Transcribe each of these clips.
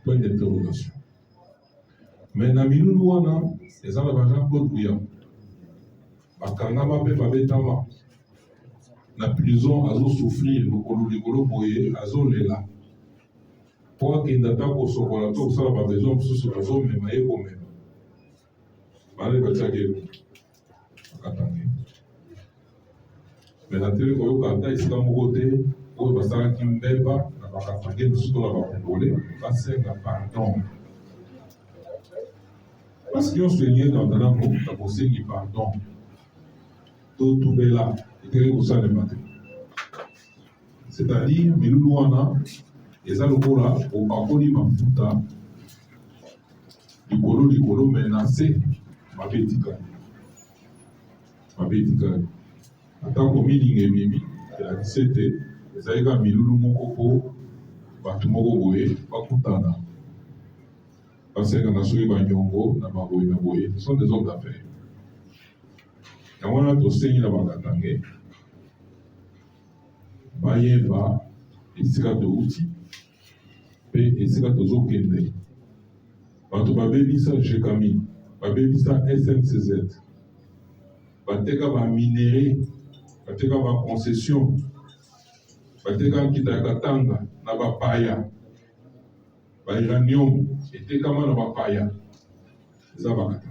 point d'interrogation mais na milulu wana eza na bajean claude buya bakangama mpe babetama na prison azosouffrir lokolo likolo boye azolela mpo akenda ata kosokola to kosala babesoin mosusu bazomema ye komema bana batiaki bakatange me nateli koyoka ata esika moko te oyo basalaki mbeba na bakatange mosusu to na bakongole basenga pardon basi nyonso eyei na ndako na kosengi pardon totubela eteli kosalema te C'est-à-dire milulu wana eza lokola opakoli mafuta likolo likolo me na se mabe etikali mabe etikali atako milinga ememi elakisi ete ezali kaka milulu moko mpo bato moko boye bakutana basengana soki banyongo na baboye na boye ce sont des hommes d'affaires yango wana tosengi na bakatange bayeba esika towuti mpe esika tozokende. Bato babebisa GECAMI, babebisa SNCZ, bateka ba minerais, bateka ba concession, bateka nkita ya Katanga na bapaya, ba uranium etekama na bapaya, eza bakata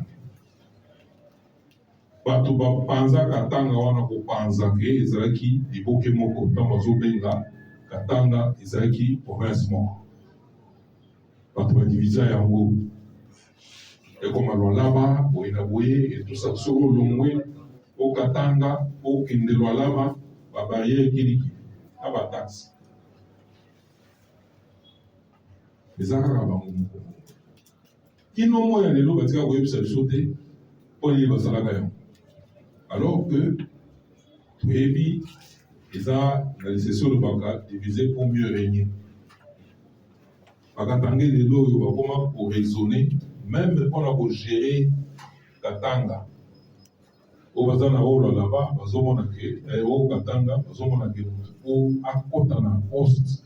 Bato bapanza Katanga wana kopanza ke ezalaki liboke moko ntango bazobenga Katanga ezalaki province moko bato ba divisa yango ekoma Lualaba boye na boye etusa soko olongwe o Katanga okende Lualaba ba barrière kiliki na ba taxi eza kaka bango moko Kino moi ya lelo batika koyebisa biso te mpo nini basalaka yango, alors que toyebi eza na lisese olobaka divise pour mieux régner. Bakatange lelo oyo bakoma koraisonne meme mpo na kogere Katanga oyo baza na rolo laba bazomona ke eh, oyo Katanga bazomona ke motu oyo akota na poste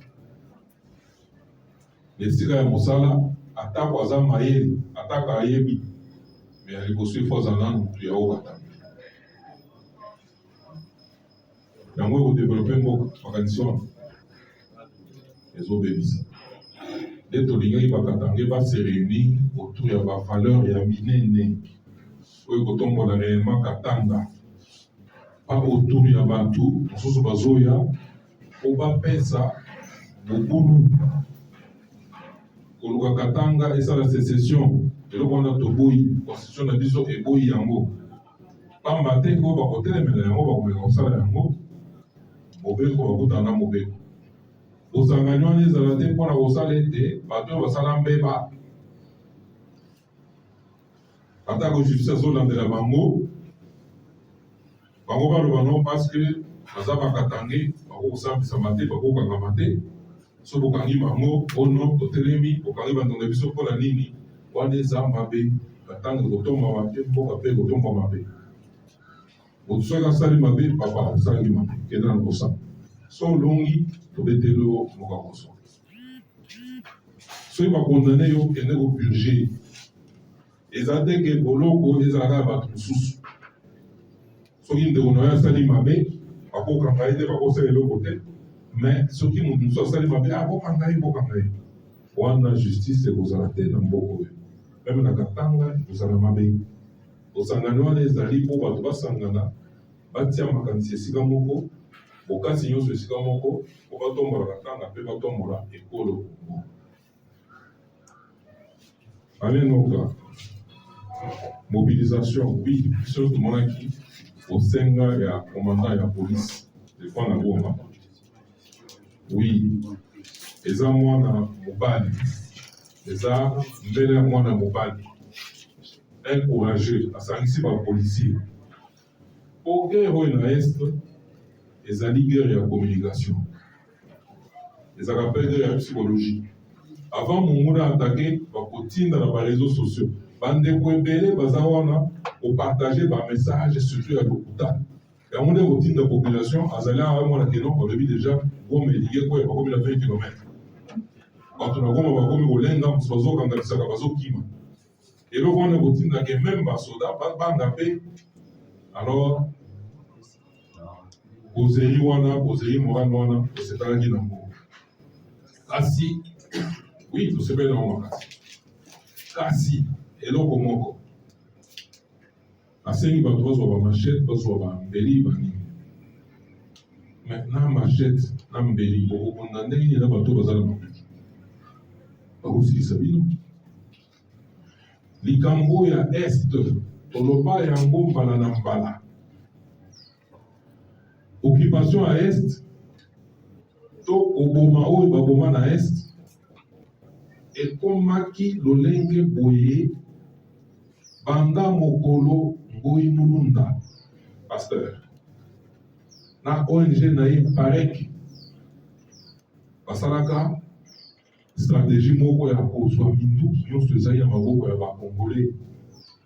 Na esika ya mosala, atako aza mayele, atako ayebi, mais ya liboso il faut azala nanu mutu ya haut batami. Yango eko developper mboka, makanisi wana ezo bebisa. Nde tolingaki ba Katangais ba se reunir autour ya ba valeurs ya minene oyo ekotombola reellement Katanga, pas autour ya batu mosusu bazoya Mpo bapesa mobulu koluka Katanga esala secession, eloko wana toboyi, constitution na biso eboyi yango. Pamba te oyo bakotelemela yango bakomeka kosala yango mobeko, bakutana na mobeko. Bosangani wana ezala te mpo na kosala ete bato oyo basala mbeba atako justice azolandela bango bango baloba no parceke baza bakatange bako kosambisama te bako kokangama te so bokangi bango ono totelemi bokangi bandongo ya biso mpola nini wana eza mabe na ntango ekotombama te mboka mpe ekotombwa mabe moto soki asali mabe papa osalaki mabe kenda na kosala so olongi tobeteli yo mokakoso soki ba condamne yo kende ko purge eza te ke boloko ezalaka ya bato mosusu soki ndeko na yo asali mabe bakokanga ye te bakosala eloko te mais soki moto mosusu asali mabe akokanga ye kokanga ye wana justice ekozala te na mboka oyo meme na katanga ekozala mabe osangani wana ezali mpo bato basangana Batia makanisi esika moko, bokasi nyonso esika moko, mpo batombola Katanga mpe batombola ekolo Congo. Alain Noka, mobilisation oui, biso tomonaki bosenga ya commandant ya police Stefan na Goma. Oui, eza mwana mobali, eza mbele ya mwana mobali, un courageux, asangisi ba policiers Po guerre oyo na est ezali guerre ya communication, ezalaka pe guerre ya psychologie. Avant monguna attaque, bakotinda na ba reseaux sociaux. Bandeko ebele baza wana ko partager ba messages surtout ya lokuta. Yango nde ekotinda population azali awa mwana keno babebi deja Goma elingi ekweya bakomi na 20 kilomètre. Bato na Goma bakomi kolenga mosusu bazokanganisaka bazokima. eloko wana ekotinda ke meme basoda babanga mpe alors bozeli wana bozeli morale wana esetalaki na ngo kasi wi tosepeli na ngo makasi kasi eloko moko Asengi bato bazwa ba machette, bazwa ba mbeli ba nini. Mais na machette na mbeli bokobunda ndenge nini na bato baza na makoki? Bakosilisa bino. Likambo ya Est toloba yango mbala na mbala. Occupation ya Est to koboma oyo baboma na Est, ekomaki lolenge boye banda mokolo Ngoyi Mulunda, pasteur, na ONG na ye PAREC basalaka strategie moko ya kozwa minduki nyonso ezali na maboko ya ba Congolais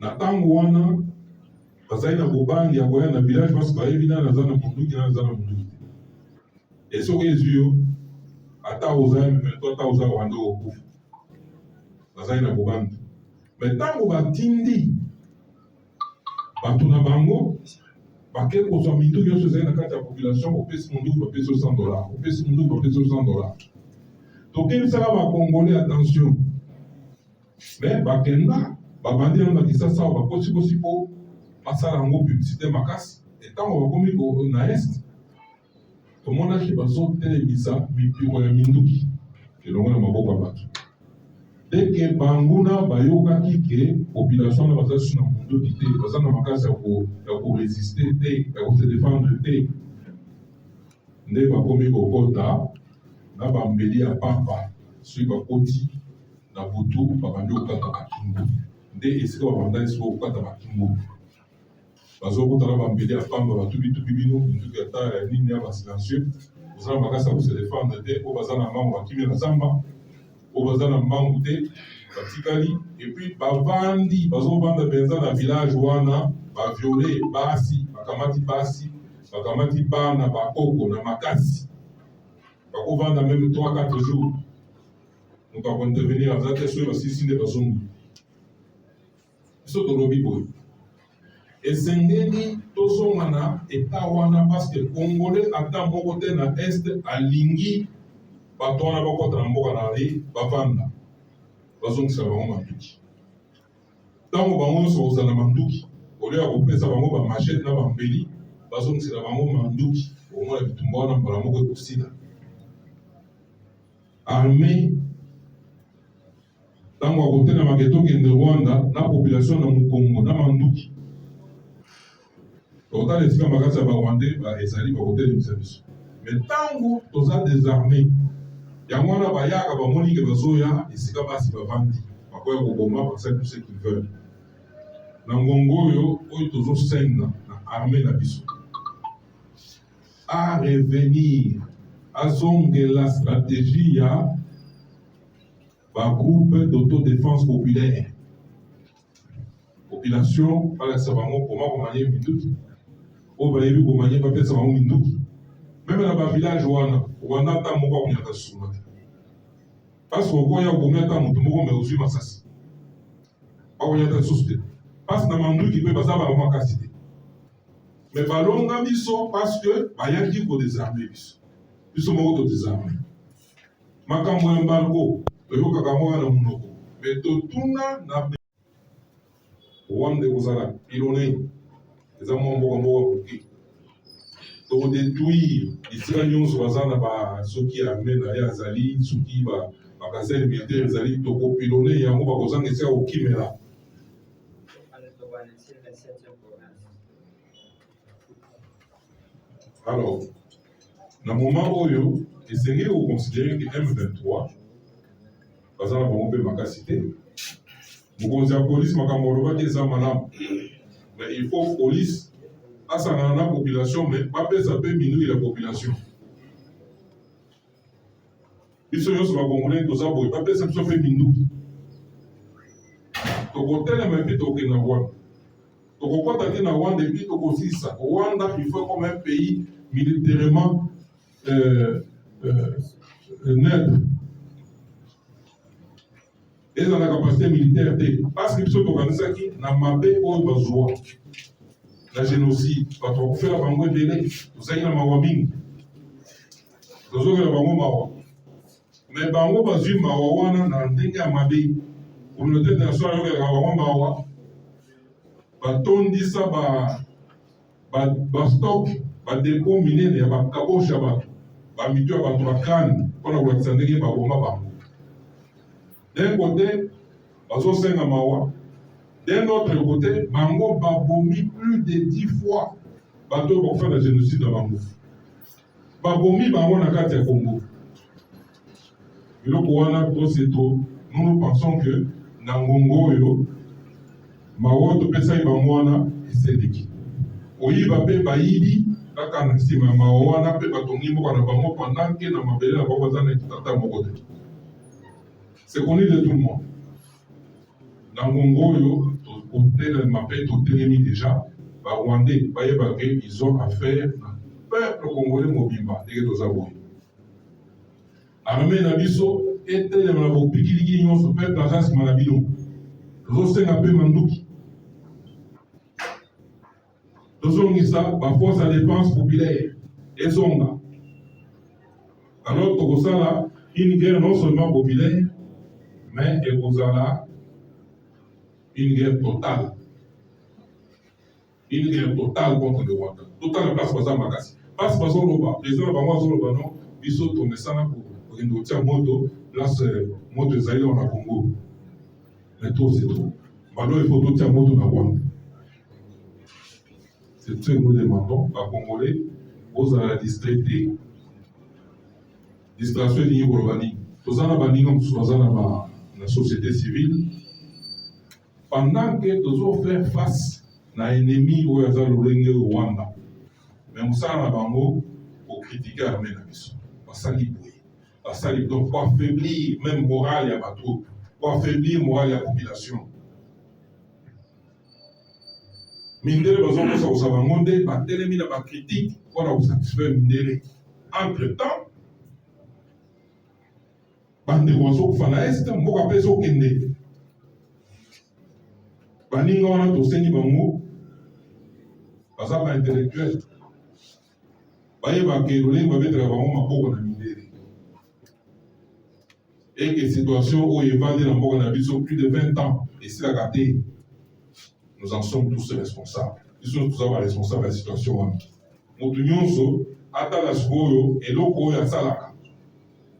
Na tango wana bazali na bobangi ya koya na village parce bayebi nani aza na munduki nani aza na munduki te. Et soki ezwi yo ata oza M23 ata oza Rwanda okokufa. Bazali na bobangi. Mais tango batindi bato na bango bake kozwa mindu nyonso ezali na kati ya population, opesi munduki bapesi yo 100 dollars, opesi munduki bapesi yo 100 dollars. Tokebisaka ba Congolais attention. Mais bakenda babandi yango na Kisasa awa bakosikosi mpo basala yango publicité makasi etango bakomi ko na est tomonaki bazotelemisa mipiko ya minduki elongo na maboko ya bato deke banguna bayokaki ke population wana baza susu na monduki te baza na makasi ya koresiste te ya kose defendre te nde bakomi kokota na bambeli ya papa soki bakoti Na butu babandi kokata matumbu nde esika babandaki sikoyo kokata matumbu bazokota na bambeli ya pamba batubitubi bino minduki ya tala ya nini ya basilencieux oza na makasi ya koselefendre te oyo baza na mbango bakimi na zamba oyo baza na mbango te batikali epuis bavandi bazovanda mpenza na village wana baviole basi bakamati basi bakamati bana bakoko na makasi bakovanda meme 3 4 jours moto ako intervenir aza te soki basilisi nde bazongi biso tolobi boye esengeli tozonga na eta wana parceke congolais ata moko te na est alingi bato wana bakota na mboka na ye bavanda bazongisa bango manduki ntango bango nyonso kozala na manduki olio ya kopesa bango bamachete na bambeli bazongisela bango manduki omona bitumba wana mbala moko ekosila Armee ntango akotelemaka etokende Rwanda na population na Mukongo na manduki tokotala esika makasi ya barwandais ezali bakotelemisa biso me ntango toza desarme yango wana bayaka bamoni ke bazoya esika basi bavandi bakoya koboma basali tout ce qu'ils veulent na ngongo oyo oyo tozosenga na armee na biso a revenir azongela strategie ya bagroupe d'autodefense populaire population balakisa bango koma komanye minduki oyo bayebi komanye bapesa bango minduki meme na bavillage wana owana ata moko akunyaka suma te pasi okoya okomi ata motu moko me ozwi masasi bakonya ata lisusu te pasi na manduki mpe baza bango makasi te mais balonga biso parce que bayaki ko desarmer biso biso moko to desarmer makambo ya embargo toyokaka yango na monoko mais totuna na rwanda ekozala pilone eza mwa mboka moko moke tokodetruire esika nyonso baza na basoki ya arme na ye azali soki bakasai militaire ezali tokopilone yango bakozanga esika kokimela Alors, na moment oyo esengeli koconsidere ke M23 baza na bango mpe makasi te. Mokonzi ya polisi makambo olobaki eza malamu, mais il faut polisi asangana na population, mais bapesa mpe minui ya population. biso nyonso bakongole toza boye bapesa biso mpe minduki tokotelema epi tokende na rwanda tokokɔta te na rwanda epi tokosilisa rwanda il faut comme un pays militairement euh, euh, neutre eza na capacité militaire te parce que biso tokanisaki na mabe oyo bazwa na génocide bato bakufela bango ebele tozalaki na mawa mingi tozokela bango mawa me bango bazwi mawa wana na ndenge ya mabe communauté international ayokelaka bango mawa batondisa ba bastock badepo minene ya bakaboshe ya bato bamito ya bato bakani mpo na kolakisa ndenge baboma bango d'un kote bazosenga mawa d'un autre kote bango babomi plus de 10 fois bato oyo bakofanda génocide na bango babomi bango na kati ya kongo eloko wana toseto nous pensons que na ngongo oyo mawa topesaki bango wana eseleki koyiba mpe bayibi kaka na nsima ya mawa wana mpe batongi mboka na bango pendant ke na mabele na bango baza na ekitata moko te c'est connu de tout le monde na ngongo oyo kotelema mpe totelemi deja barwandais bayebake ils ont affaire na peuple congolais mobimba ndenge toza boye Armee na biso etelema na bopikiliki nyonso, peuple aza nsima na bino. Tozosenga mpe manduki, tozongisa ba force ya defense populaire ezonga, alors tokosala une guerre non seulement populaire mais ekozala une guerre totale. Bino nde total contre le Rwanda. Totala place baza makasi. Place bazo loba, president na bango azo loba non biso tomesana kokende kotia moto place moto ezali awa na Congo. Mais trop c'est trop. Balo il faut totia moto na Rwanda. C'est ce que nous demandons ba Congolais bozala distrait te. Distraction elingi koloba nini? Toza na baninga mosusu baza na ba na société civile Pendant que tozo faire face na ennemi oyo aza lolenge oyo Rwanda, mais mosala na bango ko critiquer armee na biso, basali boye, basali donc ko affaiblir meme morale ya ba troupes, ko affaiblir morale ya population. Mindele bazo kosa kosa bango nde batelemi na ba critiques mpo na ko satisfaire mindele entre temps bandeko bazokufa na est mboka mpe ezokende baninga wana tosengi bango baza ba intellectuel bayebaka elolenge babetaka bango maboko na mindele eke situation oyo evandi na mboka na biso plus de 20 ans esilaka te nous en sommes tous responsables biso toza ba responsable ya situation wana motu nyonso atala sikoyo eloko oyo asalaka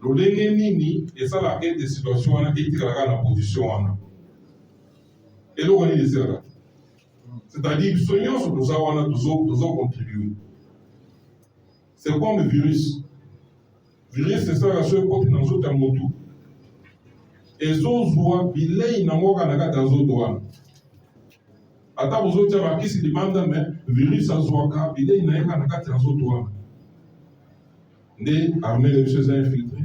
Lolenge nini esalaka ete situation wana etikala kaka na position wana? Eloko nini esalaka? C'est-à-dire biso nyonso toza wana tozo tozo contribuer. C'est comme virus. Virus esalaka soki ekoti na nzoto ya motu ezozwa bilei na yango kaka na kati ya nzoto wana ata bozotya bakisi libanda me virus azwaka bilei na ye kaka na kati ya nzoto wana nde armée na biso eza infiltre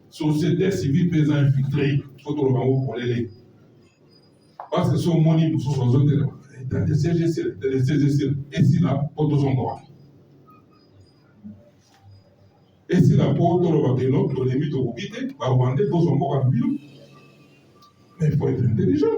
société civile mpe eza infiltre fo toloba yango polele parce que so omoni mosusu azotelema esila mpo tozonga wana esila mpo toloba keno tolembi tokoki te barwandais tozwa mboka na bino mais faut être intelligent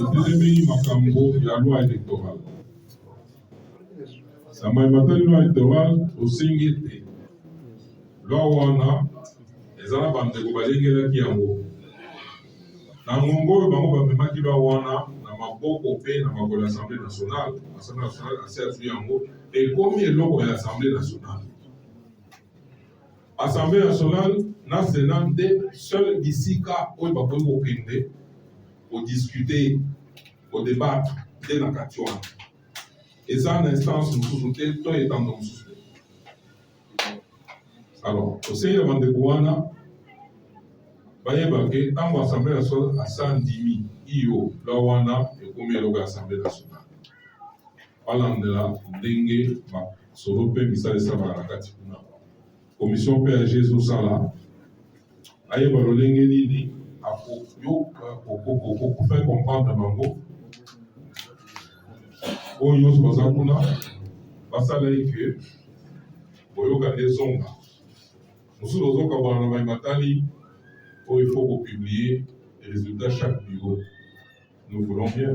etelemeli makambo ya loi électorale na mai matali loi électorale osengi ete loi wana eza na bandeko balengelaki yango Na ngonga oyo bango bamemaki loi wana na maboko mpe na makolo ya Assemblee nationale, Assemblee nationale asi azwi yango, ekomi eloko ya Assemblee nationale. Assemblee nationale na Senat nde seul bisika oyo bakoki kokende kodiscuter, kodebatre nde na kati wana, eza na instance mosusu te to etando mosusu te. Alors, conseil ya bandeko wana bayebake ntango assemblée nationale asa ndimi iyo la wana ekomi eloko ya assemblée nationale balandela ndenge masolo mpe misala esalaka na kati kuna commission page ezosala ayeba lolenge nini akoyoka kokokokokufa comprendre bango oyo nyonso baza kuna basala ye ke boyoka nde ezonga mosusu ozokabwana na mai matali oyo ifo kopublie résultat chaque bureau nous voulons bien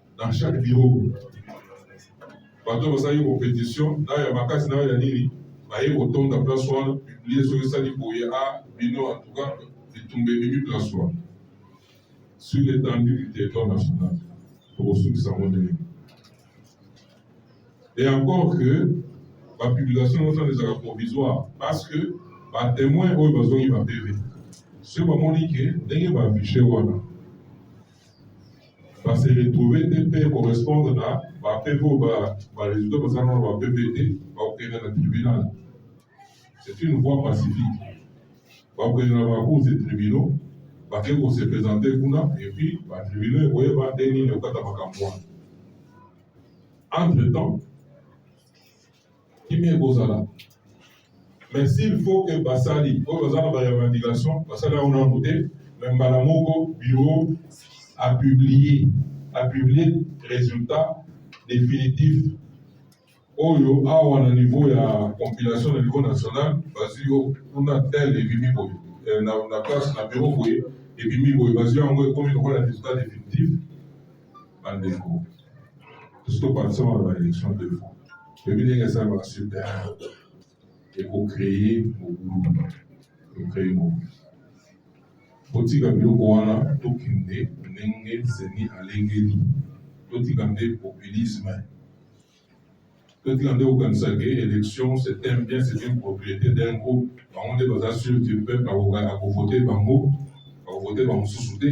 na chaque bureau bato basali competition nayo ya makasi nayo ya nini baye kotonda place wana publie soki esali boye a ah, bino en tout cas bitumba ebimi place wana sur l'étendue du territoire national tokosukisa yango ndenge et encore que bapublication nyonso wana ezalaka provisoire parce que batemoin oyo bazongi bapeve soki bamoni ke ndenge baaffiche wana ba se retrouver te mpe correspondre na ba PV oyo ba résultat baza na ba PV te, bakokende na tribunal. C'est une voie pacifique. Bakokende na ba cours de tribunaux, bake ko se présenter kuna et puis ba tribunaux ekoyeba ndenge nini ekokata makambo wana. Entre temps kimia ekozala mais s'il faut que basali oyo baza na barevendication basali yango nano te me mbala moko bureau apublie apublie résultat définitif oyo awa na niveau ya compilation na niveau national bazwi yo kuna tel ebimi boye eh, na place na bureau boye ebimi boye bazwi yango ekomi lokola résultat définitif bandeko biso tokwatisama na baelection deux fois toyebi ndenge esalaka super ekocreye mobulu ekocreye mobulu totika biloko wana tokende ndenge zeni alengeli totika nde populisme totika nde kokanisa ke élection c'est un bien c'est une propriété d'un groupe bango nde baza sur du peuple akovote bango bakovote bamosusu te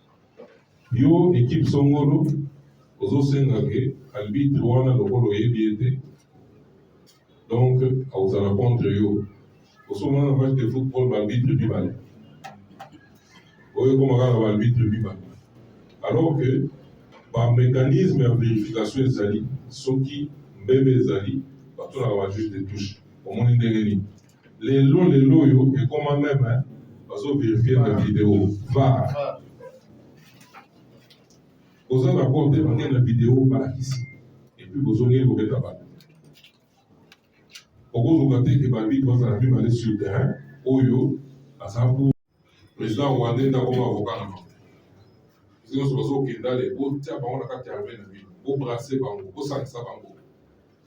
Yo equipe songolo ozosenga ke arbitre wana lokola oyebi ye te donc akozala contre yo osomona na match de football baarbitre mibale oyo ekoma kaka baarbitre mibale alors que bamécanisme ya verification ezali soki mbebe ezali batunaka bajuge de touche omoni ndenge nini Lelo lelo oyo ekoma meme hein bazo verifier na video var boza d'accord te bakei na video balakisi epuis bozongeli kobeta bato okozonga te ke babitre bazala mibale sur terrain oyo aza Président rwandais nda koma avocat na bango. Nyonso bazokenda le botia bango na kati ya armée na bino, bo brasser bango, bosangisa bango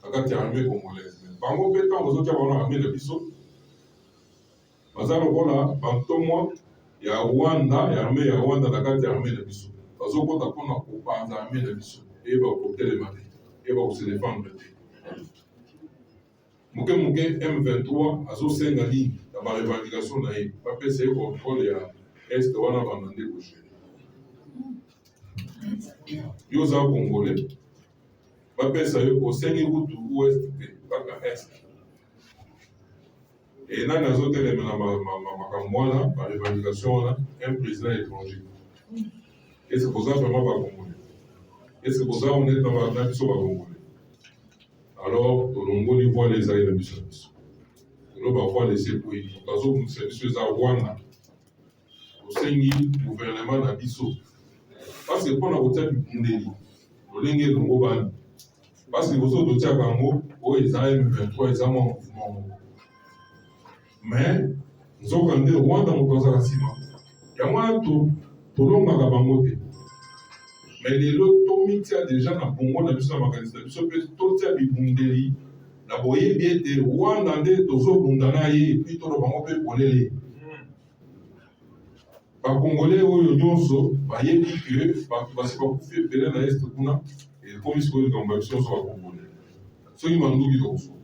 na kati ya armée congolaise. Bango mpe ntango bazotia bango na armée na biso baza lokola bantomwa ya Rwanda ya armée ya Rwanda na kati ya armée na biso bazokota mpona kopanza armée na biso eyeba kotelema te eyeba koselefandre te Muke muke M23 azo senga nini na ba revendication na ye ba pesa ye controle ya est wana banda nde ko gere yo oza congolais ba pesa yo osengi kutu ouest te kaka est e nani azo telemela makambo wana ba revendication wana un président étranger est ce que boza vraiment ba congolais est ce que boza honnête na biso ba congolais Alors tolongoli voile ezali na miso na biso lelo bavoile esekweli bazobundisa biso eza rwanda tosengi guvernema na biso paske mpo na kotya bibundeli lolenge elongobani paske liboso totyaka yango oyo eza m23 eza mwa mouvement moko mais nzoka nde Rwanda moto azala nsima yango wana tolongaka bango te mais lelo tomitia deja na bongo na biso na makanisi na biso mpe totia bibundeli na boyebi ete Rwanda nde tozobunda na ye epuis tolo bango mpe polele bakongole oyo nyonso bayebi ke bato basi bakufi ebele na este kuna ekomi sikoyo likambo ya biso nyonso bakongole soki manduki tokosuka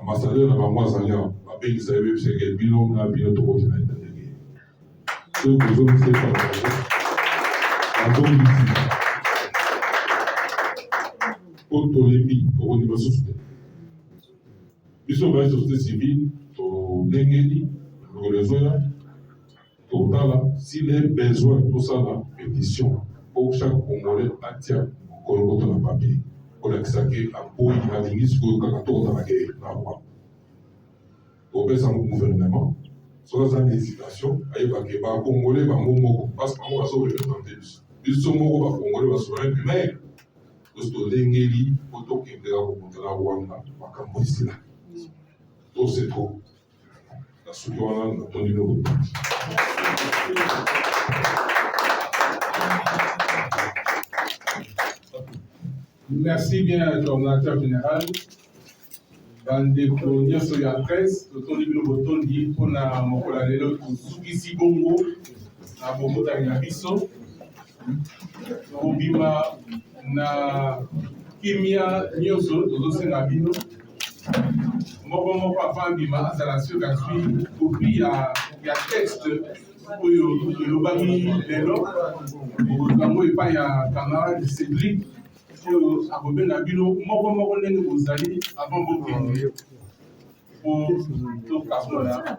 Ambassadeur na bango azali awa, babengisa ye bebisa eke bino na bino tokoti na etat de guerre. Soki bozongisi epa na bango, bazongisi mpo tolembi, tokondima lisusu te. Biso baye société civile tolengeli mikolo ezoya Totala s'il est besoin tosala petition po chaque congolais atia kolokoto na papier kolakisa ke aboyi alingi sikoyo kaka tokotana ke na rwanda kopesa yango gouvernement soki aza na hésitation ayeba ke bacongolais bango moko parce bango bazorepresente biso biso moko bacongolais basoin primaire tosi tolengeli po tokendeka kokutana rwanda makambo esila tose trop nasuki wana namoni lobo merci bien coordinateur général bandeko nyonso ya presse totondi bino botondi mpona mokolo ya lelo tosukisi bongo na bobotami na biso kobima na kimia nyonso tozosenga bino moko moko afandima azala soki azwi kopi ya texte oyo elobami lelo bokozango epai ya camarade cédric oyo akobenga bino moko moko ndenge bozali avant bokende po tokabola